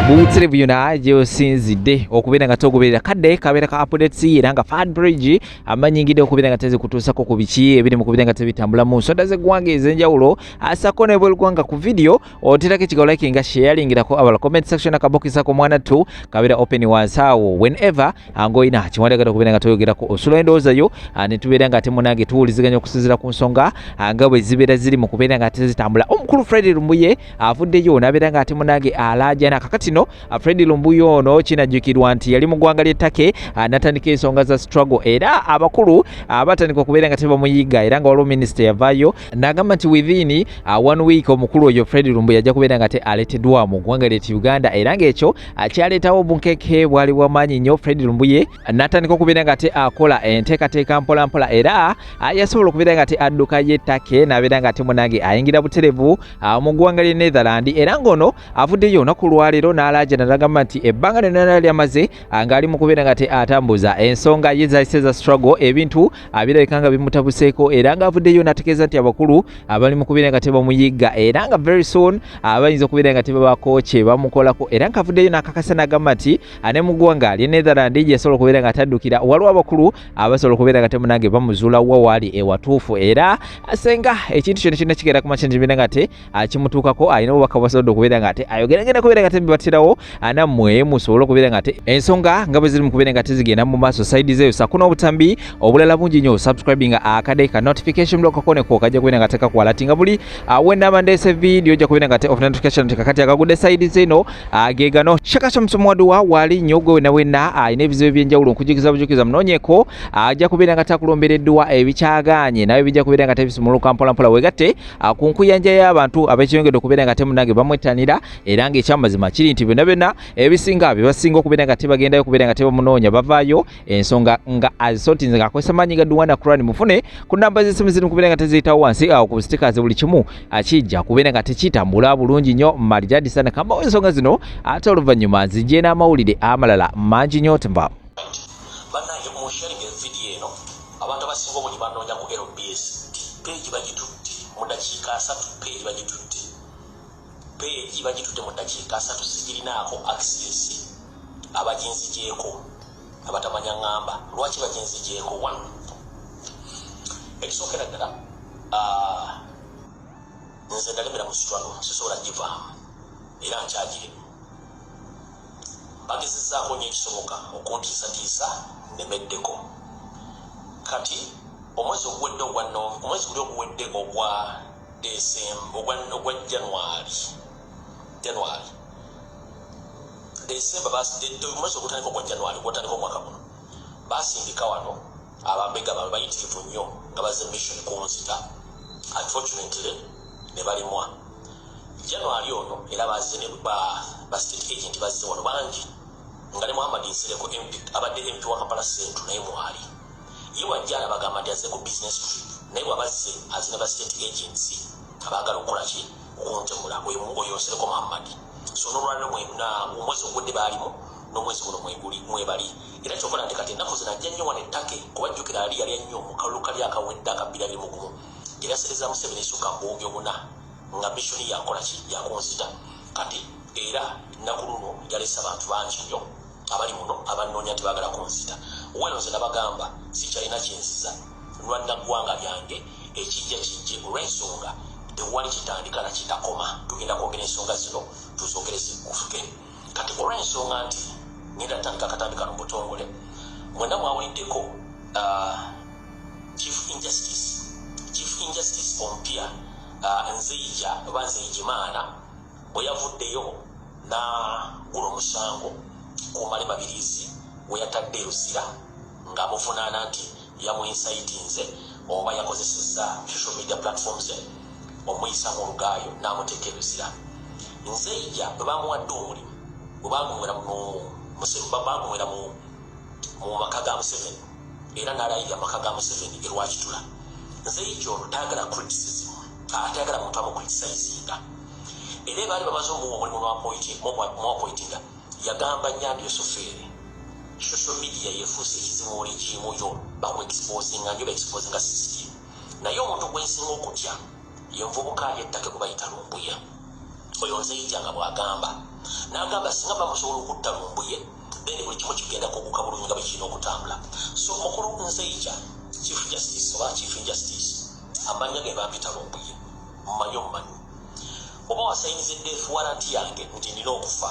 buwutsire byona gyeosinzidde okubeera nga togoberera kadde kabeera ka updates era nga fad bridge amanyingidde okubeera nga tezikutuusako ku biki ebiri mu kubeera nga tebitambula mu nsonda z'eggwanga ez'enjawulo asako nebwelugwanga ku vidiyo oterako ekiga olikinga sharingirako abala comment section akabokisa ku mwana tu kabera open wansi awo whenever angoyina kiwandagala okubeera nga toyogerako osula endowooza yo ah, ne tubeera nga ate munange tuwuliziganya okusinzira ku nsonga ah, nga bwe zibeera ziri mu kubeera nga ate zitambula omukulu fred lumbuye avuddeyo nabeera nga ate munange alaajana kakatino ah, fred lumbuye ono kinajjukirwa nti yali mu ggwanga ly'e take natandika ensonga za struggle era abakulu batandika okubeera nga tebamuyiga era nga waliwo minisita yavaayo nagamba nti within uh, one week omukulu oyo Fred Lumbu yajja kubeera nga te aleteddwa mu ggwanga ly'etti Uganda era ng'ekyo uh, kyaleetawo obunkeke bwali bwamaanyi nnyo Fred Lumbu ye uh, n'atandika okubeera nga te akola uh, enteekateeka mpolampola era uh, yasobola okubeera nga te adduka ye take n'abeera nga te munange ayingira buterevu uh, mu ggwanga ly'e Netherland era ng'ono avuddeyo olunaku lwaleero n'alaajana n'agamba nti ebbanga lyonna lyali amaze uh, ng'ali mu kubeera nga te atambuza ensonga ye zayise za struggle ebintu abirabika nga bimutabuseeko era nga avuddeyo nategeeza nti abakulu abali mu kubeera nga tebamuyigga era nga very soon abayinza okubeera nga tebabaako kye bamukolako era nga avuddeyo nakakasa nagamba nti ane mu ggwanga lye netherland gyeyasobola okubeera nga taddukira waliwo abakulu abasobola okubeera nga temunange bamuzuula wa waali ewatuufu era asenga ekintu kyona kyonna kigenda kumakya nti bina nga te akimutuukako alina obubaka bwasobodde okubeera nga ate ayogera ngenda kubeera nga tebibatirawo anammwe musobole okubeera nga te ensonga nga bwe ziri mu kubeera nga tezigenda mu maaso saidi zeeyo sako n'obutambi obulala bungi nnyo subscribing akade ka notification block kakoneko kajja kubeera nga tekakwalati nga buli awendama ndeese vidiyo ojja kubeera nga te of notification tekakati akagudde saidi zeeno agegano shaka shamusomo waduwa waali nnyo gwe wena wena alina ebizibu ebyenjawulo nkujukiza bujukiza munoonyeko ajja kubeera nga takulombereddwa ebikyagaanye nawe bijja kubeera nga tebisumuluka mpolampola wegatte ah, ku nkuyanja y'abantu abekiyongedde okubeera nga temunange bamwettanira era ng'ekyamazima kiri nti byonna byonna ebisinga bye basinga okubeera nga tebagendayo okubeera nga tebamunoonya bavaayo ensonga nga azisotinze ng'akozesa maanyi ga duwana kurani mufune ku namba z'essimu ziri mukubeera nga teziyitawo wansi awo ku sitikazi buli kimu akijja kubeera nga tekitambula bulungi nnyo marijadisana kambawo ensonga zino ate oluvannyuma nzijje n'amawulire amalala mangi nnyo tembamu Abantu abasinga obungi banoonya ku LBS nti peegi bagitutte mu ddakiika asatu, peegi bagitutte, peegi bagitutte mu ddakiika asatu, sigirinaako akisesi, abaginzigyeko abatamanya ŋŋamba lwaki baginzigyeko wano. Ekisookera ddala ah, nze ndalemera mu sitwalo sisobola givaamu era nkyagirimu. bagezezzaako nnyo ekisoboka okuntiisatiisa nnemeddeko kati omwezi oguwedde ogwa omwezi guli oguwedde ogwa ogwa januari januari desemba omwezi ogutandika ogwa januari gwotandika omwaka guno basindika wano abambega baabwe bayitirivu nnyo nga baze mission ku nzita unfortunately ne balimwa january ono era baze ne ba ba state agent bazze wano bangi nga ne muhammad nsereko mp abadde mp wa kampala central naye mwali ye wajja alabagamba nti aze ku business trip naye bwabazze aze ne ba state agency abaagala okukola ki okuntemula oyo nsereko muhammad so nolwaliro mwena omwezi ogudde baalimu n'omwezi guno mweguli mwebali Era kyova olaba nti kati ennaku zino ajja nnyo wano e Turkey kuba jjukira ali yalya nnyo mu kalulu kali akawedde aka Bbirabimugumu gye nasereza Museveni essuka mbuuge buna nga missoni yakukola ki? Yakunzita. Kati era ennaku luno yalese abantu bangi nnyo abali muno abannoonya nti baagala kunzita. Wano nze nabagamba sikyalina kye nziza lwanna ggwanga lyange ekijja kijje olw'ensonga tewali kitandika na kitakoma. Tugenda kwogera ensonga zino tuzoogere zigguke. Kati olw'ensonga nti ngenda ntandika akatambi kano butongole, mwena mwawuliddeko uh, chief injustice chief injustice ompya uh, nzeija oba nzeijimaana bwe yavuddeyo n'agula omusango ku male mabirizi we yatadde eruzira ng'amuvunaana nti Yamuincitinze oba yakozesezza social media platform ze omuyisa mu olugaayo n'amuteeka ebizira. Nzeija bwe bamuwadde omulimu bwe bagumwera bagumwera mu maka ga Museveni era n'alayirira amaka ga Museveni e Rwakitula. Nzeija ono tayagala criticism atayagala muntu amucriticizinga era baali bamaze omuwa omulimu lwapoitinga Yagamba nyambye sofeere social media yefuuse ekizibu oli kimu yo bakuexposinga nyo baexposinga system naye omuntu gwensinga okutya yenvubuka yettake kubayita lumbuye oyo nzeija nga bwagamba nagamba singa bamusobola okutta lumbuye then buli kimu kigenda kuguka bulungi nga bwekirina okutambula so mukulu nzeija chief justice oba chief injustice amanya ge bampita lumbuye mmanyi omumanyi Oba wasayiniza edeath warrant yange nti nina okufa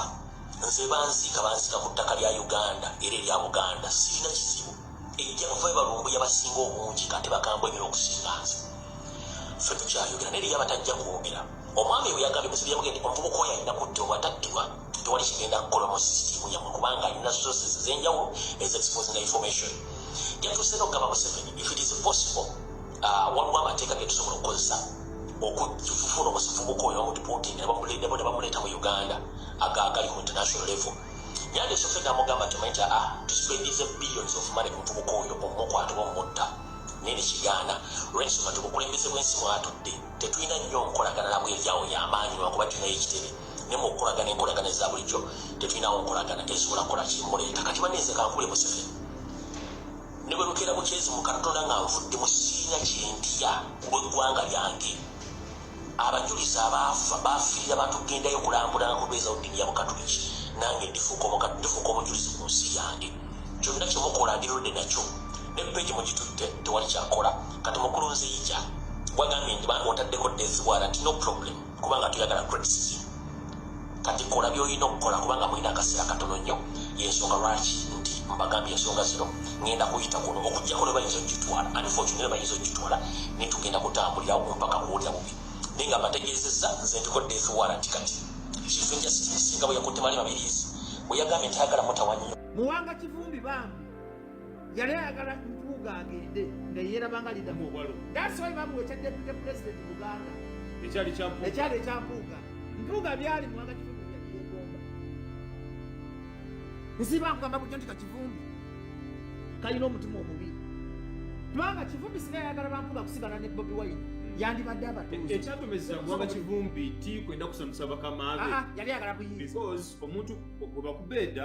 nze banziika banziika ku ttaka lya Uganda era erya Buganda sirina kizibu ejjakuva ebalumbu yabasinga obungi kate bakambwe ebira okusinga nze ffe tukyayogera naye yabatajja kwogera omwami ebwe yagambye muzibu yamugende omuvubuka oyo alina kudda obwataddibwa tewali kigenda kukola mu sisitimu yamwe kubanga alina sources ezenjawulo ezexposinga information jatuuse nokugamba museveni if it is possible Ah, waliwo amateeka getusobola okukozesa okufuna omusivubuka oyo bamudipoting nebamuledemo nebamuleeta mu uganda agagali ku international level yandi esofe namugamba nti omanyi aa ah, tuspendize billions of money kumuvubuka oyo omumukwata oba omumutta naye nekigaana olwensonga nti obukulembeze bwensi mwatudde tetulina nnyo nkolagana nabwe eryawo yamaanyi lwakuba tulinayo ekitebe naye muokukolagana enkolagana eza bulijjo tetulinawo nkolagana tezisobola kukola kimuleeta kati baneeze kankule museveni Ne bwe lukeera bukyezi mu Katonda nga nvudde mu kibiina kye ndiya ku lw'eggwanga lyange. Abajulizi abaafa baafiirira bantu gendayo kulambula nga kubeezawo ddiini ya Bukatuliki. Nange ndifuuka omuka, ndifuuka omujulizi ku nsi yange. Kyonna kye mukola ndi ready nakyo. Ne ppeegi mugitutte, tewali kya kukola. Kati mukulu Nzeija gwagambye nti bambi otaddeko death warrant, no problem. kubanga tuyagala criticism kati kola byolina okukola kubanga mulina akaseera katono nnyo yensonga lwaki nti mbagambye ensonga zino ngenda kuyita kuno okujjako nebayinza okitwala anfotu naye bayinza okitwala naye tugenda kutambulira mpaka kuwulira bubi naye nga mbategeezezza nze ndiko death warrant kati kifu njasisinga bwe yakutte mali mabiriizi bwe yagambye nti ayagala mutawanyo muwanga kivumbi bambi yali ayagala mpuuga agende nga yeerabanga lidamu obwalo dasoi bamuwa ekya depute president buganda ekyali ekya mpuuga mpuuga byali muwanga kivumbi yakiegomba nsiba nkugamba bujo nti kakivumbi kalina omutima omubi kubanga kivumbi singa yayagala bampuuga kusigala ne bobi wine yandibadde abatuuekyatomezebwanga kivumbi ti kwenda kusamusa bakamaabe ah, ah, yali ayagala buyinza omuntu gwebakubeeda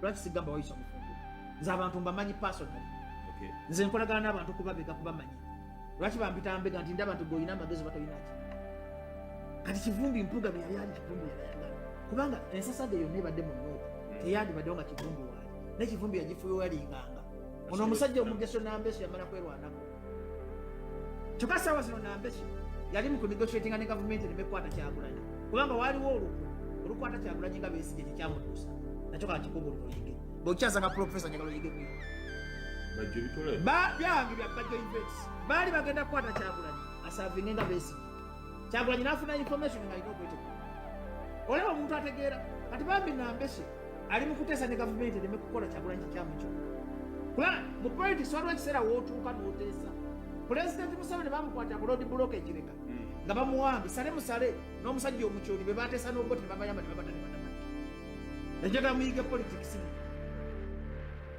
lwaki sigamba wayisa mufumbo nze abantu mbamanyi personally nze nkolagana n'abantu kubabega kubamanya lwaki bampita mbega nti ndaba nti gweolina amagezi batolinaki kati kivumbi mpuga beyali ali kivumbi yalayagala kubanga ensasage yonna ebadde mu nooka hmm. teyandibaddewo nga kivumbi waali naye kivumbi yagifuyoyalinganga ono omusajja omugeso nambeso yamala kwerwanako kyokka saawa zino nambeki yali mu kunegotiatinga ne gavumenti nemekwata kyagulanyi kubanga waliwo oluku olukwata kyagulanyi nga besigye tekyamutuusa nakyo kala kikubuli luyige bwekyaza nga profesa njagala oyige ku byange bya bajjo events baali bagenda kukwata kyagulanyi asavinge nga besigye kyagulanyi nafuna information nga alina okweteku olaba omuntu ategeera kati bambi nambeki ali mu kuteesa ne gavumenti ereme kukola kyagulanyi kikyamu kyo kuba mu politics waliwo ekiseera wootuuka n'oteesa pulezidenti museveni bamukwata bulodi buloka ekireka hmm. nga bamuwambi sale musale n'omusajja omukyoli be bateesa n'oboti ne babayamba ne babatane banamani najagala muyige politics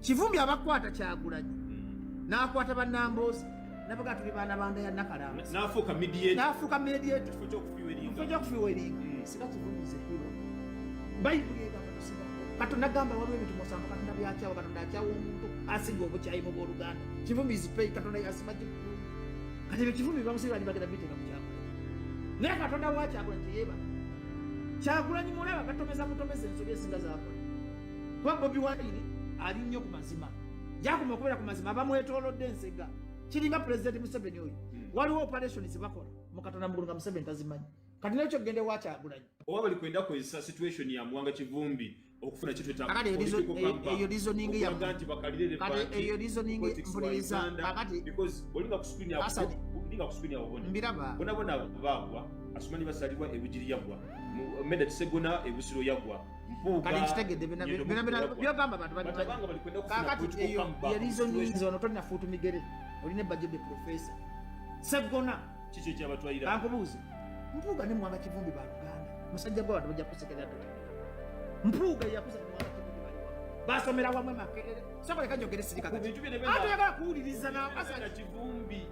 kivumbi abakwata kyagulanyi nakwata banambozi nabaga tuli baana banda ya nakalamba nafuuka nafuuka mediate kifo kyokufiwa eringa mm. sika kivumbi zekiro bayibuli egamba tusiba katonda gamba waliwo ebintu musanvu katonda byakyawa katonda akyawa omuntu asinga obukyayi mu boluganda kivumbi zipei katonda yasima kikulu kati ebyo kivumbi bamusiba ni bagenda biteeka mu kyakula naye katonda wakyakula teyeba kyakulanyi mulaba batomeza butomeza ensobi esinga zakola kuba bobi wayini ali nnyo ku mazima gyakuma okubeera ku mazima abamwetolodde ensega kiringa pulezidenti museveni oyo hmm. waliwo operation zebakola mukatonda mugulu nga museveni tazimanyi kati nekyo kugenda ewakyagulanyi oba bali kwenda kozesa situation ya muwanga kivumbi okufuna kitwetakatieyo rizoningiyaolinga kusikwinyaobonembiraba bona bona bagwa asumani basalibwa ebugiri yagwa meda kisegona ebusiro yagwa kati nkitegedde byogamba bantu kakati eyo yerizoninza ono tolina fuutu migere olina ebbajo de profesa seggona ankubuuze mpuuga ne mwanga kivumbi ba luganda musajja gwa bantu bajja kusekerera to mpuuga yakuza ne mwanga kivumbi ba luganda basomera wamwe makerere sokoleka njogere sirikakati ate yagala kuwuliriza na kivumbi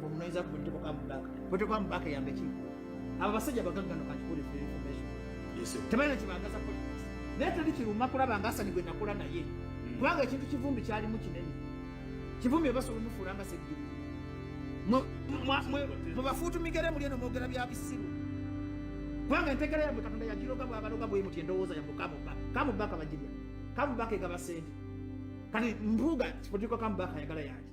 Mumnoiza kutoka kwa mbaka. Kutoka kwa mbaka ya mbechi. Aba basajja baganga no kachukuli free information. Yes. Tabana kibangaza politics. Naye tali kiruma kulaba ngasa ni gwenda kula naye. Hmm. Kubanga ekintu kivumbi kyali mu kinene. Kivumbi obaso lumufura nga segiri. Mwe mwe mwe bafutu migere muli no mogera bya bisiru. Kubanga entegera ya Katonda ya jiroga bwa baloga bwe muti endowooza ya mukamu ba. Kamu baka bajibya. Kamu baka egaba sente. Kani mbuga kipotiko kamu baka yagala yaje.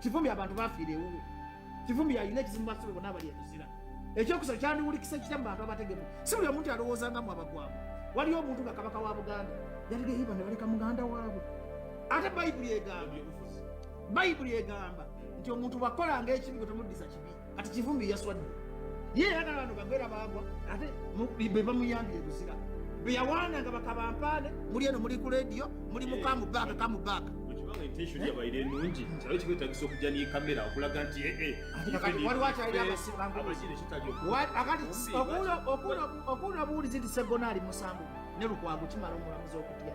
kivumbi abantu bafiira ewuwe kivumbi yalina ekizimu basobe bona abali ekuzira ekyokusaba kyandiwulikisa ekita mu bantu abategemu si buli omuntu alowooza nga mwabagwamu waliyo omuntu nga kabaka wa buganda yaligeyiba ne baleka muganda waabwe ate bayibuli egamba bayibuli egamba nti omuntu bwakolanga ekibi gwe tomuddiza kibi kati kivumbi yaswadde ye era nabantu bagwera baagwa ate be bamuyambye ebuzira be yawaana nga bakabampaane muli eno muli ku lediyo muli mukamu baaka kamu baaka okuwula obuwulizi nti segona ali musango ne lukwago kimala omulamuzi okutya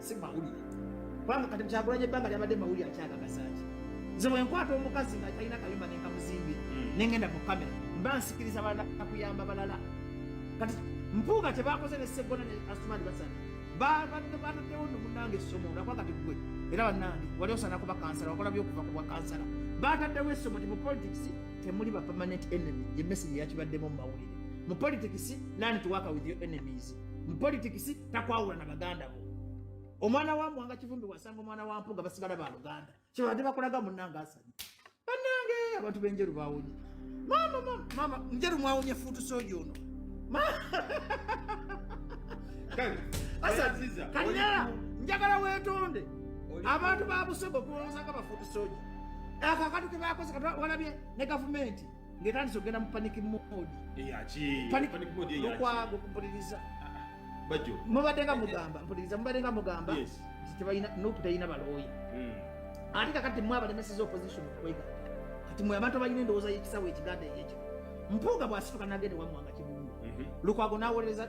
si mawulire kubanga kati kyakulanya ebbanga lyabadde mawulire akyagagasaki nze bwenkwata omukazi nga talina kayumba nenkamuzimbye hmm. nengenda mu kamera mba nsikiriza balala kakuyamba balala kati mpuuga tebakoze nesegona ne asumani basana babataddewo nomunange essomo olakwa kati gwe era banange wali osana kuba kansala wakola byokuva kubwa kansala bataddewo essomo nti mu politics temuli ba permanent enemy ye message yakibaddemu mu mawulire mu politics learn to work with your enemies mupolitikisi takwawula na baganda bo omwana wa mwanga kivumbi wasanga omwana wa mpuga basigala ba luganda kyebadde bakulaga munange asanye banange abantu benjeru bawonye mama mama mama njeru mwawonye futu soja ono kanyala njagala wetonde abantu babusogo kuwolozanga bafutu soja akakatu kebakoze walabye ne gavumenti ng'etandise okugenda mu panic mode okwaga okumpuliriza mubadde nga mugamba mpuliriza mubadde nga mugamba nti tebalina nupu terina balooya hmm. ate kakati mwe abalemeseza opposition okwega kati mwe abantu abalina endowooza y'ekisawo ekiganda eyekyo mpuuga bw'asituka n'agenda ewammwanga kibungu mhm. lukwago n'awolereza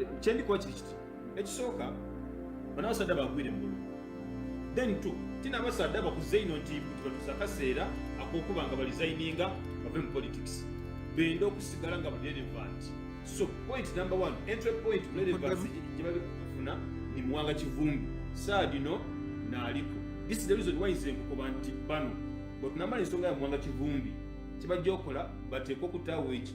eh, kyendikuwa kiri kiti ekisooka banabasadda bagwire mugulu then t tina abasadda bakuze ino nti tibatusa akaseera akokuba nga balizayininga bave mu politics benda okusigala nga relevant so point number one entry point relevance gyebali kufuna ni muwanga kivumbi saa dino naaliko this is the reason why nze nkukoba nti bano bwetunamala ensonga ya muwanga kivumbi kibajja okola bateeka okutaawo ekyo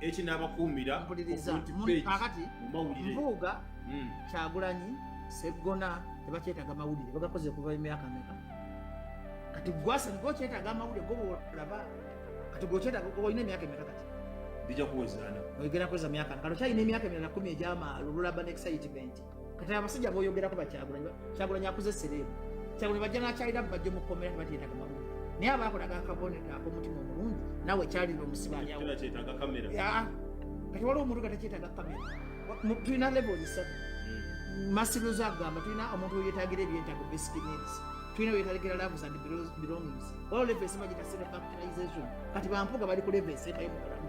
ekinabakuumira kakati mpuuga hmm. kyagulanyi seggona tebakyetaga mawulire bagakoze kuva emyaka meka kati gwasa niko kyetaga amawulire gobolaba kati gwokyetaga olina emyaka emeka kati bijja kuwezana oyogera kweza myaka nkalo kyalina emyaka emirala kumi egyamaalo lulaba ne excitement kati abasajja boyogerako bakyagulanyi kyagulanyi akuze sereebu kyagulanyi bajja nakyalira bajja omukomera tebateetaga mabuga naye aba akolaga akabonero akomutima omulungi nawe kyalira omusibalyawo kati waliwo omuntu nga tekyetaga kamera tulina levo zisatu hmm. masirozo agamba tulina omuntu weyetagira ebyetago basic needs tulina weyetagira loves and belongings waliwo levo esema gita self actualization kati bampuga bali ku levo esemayo mukolamu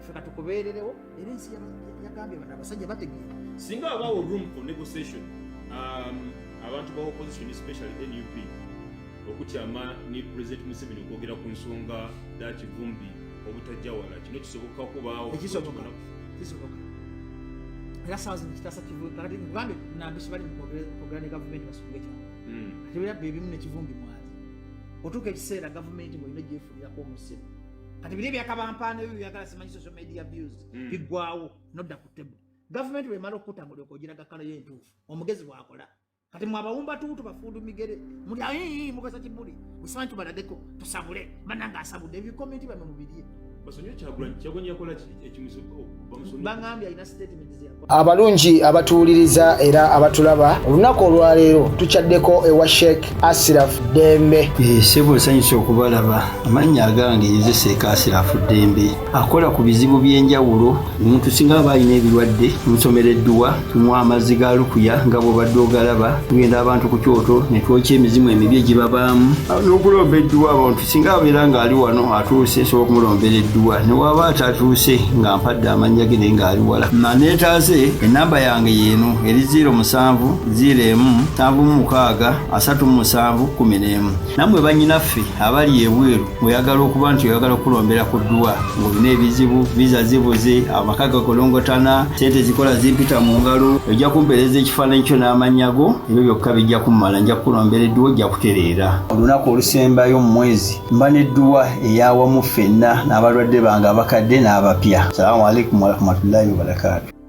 ffe katukubeererewo era ensi yagambye bana abasajja bategeera singa abawo room for negotiation um, abantu ba opposition especially nup okukyama ne president museveni okwogera ku nsonga da kivumbi obutajja wala kino kisoboka kubaawo ekisoboka kisoboka era saazi nekitasa kivumbi kakati uganda nambisi bali mukwogera ne gavumenti basubwa ekyama hmm. ati bera bebimu nekivumbi mwali otuuka ekiseera gavumenti bwolina gyefurirako omusimu kati biri ebyakabampaana ebyo byagala simanyi social media views hmm. bigwawo nodda ku table government bwemala okukutambula okogiraga kala yo entuufu omugezi bwakola kati mwabawumba tuutu bafundu migere muli aii mukasa kibuli busimanyi tubalageko tusabule bananga asabudde ebikomenti bamwe mubirye basonyiwe kyagulanyi kyagulanyi yakola ekimuzi abalungi abatuwuliriza era abatulaba olunaku olwaleero tukyaddeko ewa sheik asiraf dembe eh, sebo nsanyusa okubalaba amannya agange nze sheik asiraf dembe akola ku bizibu by'enjawulo omuntu singa aba alina ebirwadde nsomera edduwa tumuwa amazzi ga lukuya nga bwobadde ogalaba tugenda abantu ku kyoto netwokya emizimu emibi egibabaamu n'okulomba edduwa abantu singa abeera ng'ali wano atuuse sobola okumulombera edduwa ne waaba atatuuse nga mpadde amannya ge naye ng'ali wala maneetaaze ennamba yange yeeno eri 0 musanvu 0 emu nsanvu mu mukaaga asatu mu musanvu kumi n'emu nammwe bannyinaffe abali ebweru oyagala okuba nti oyagala okulombera ku dduwa ng'olina ebizibu viza zibuze amaka gakolongotana sente zikola zimpita mu ngalo ojja kumpeereza ekifaananyi kyo n'amannya go ebyo byokka bijja kummala nja kukulombera edduwa ojja kutereera olunaku olusembayo mu mwezi mba n'edduwa eyawamu ffenna n'abalwadde bange abakadde n'abapya salamu alaikum warahmatullahi wabarakatu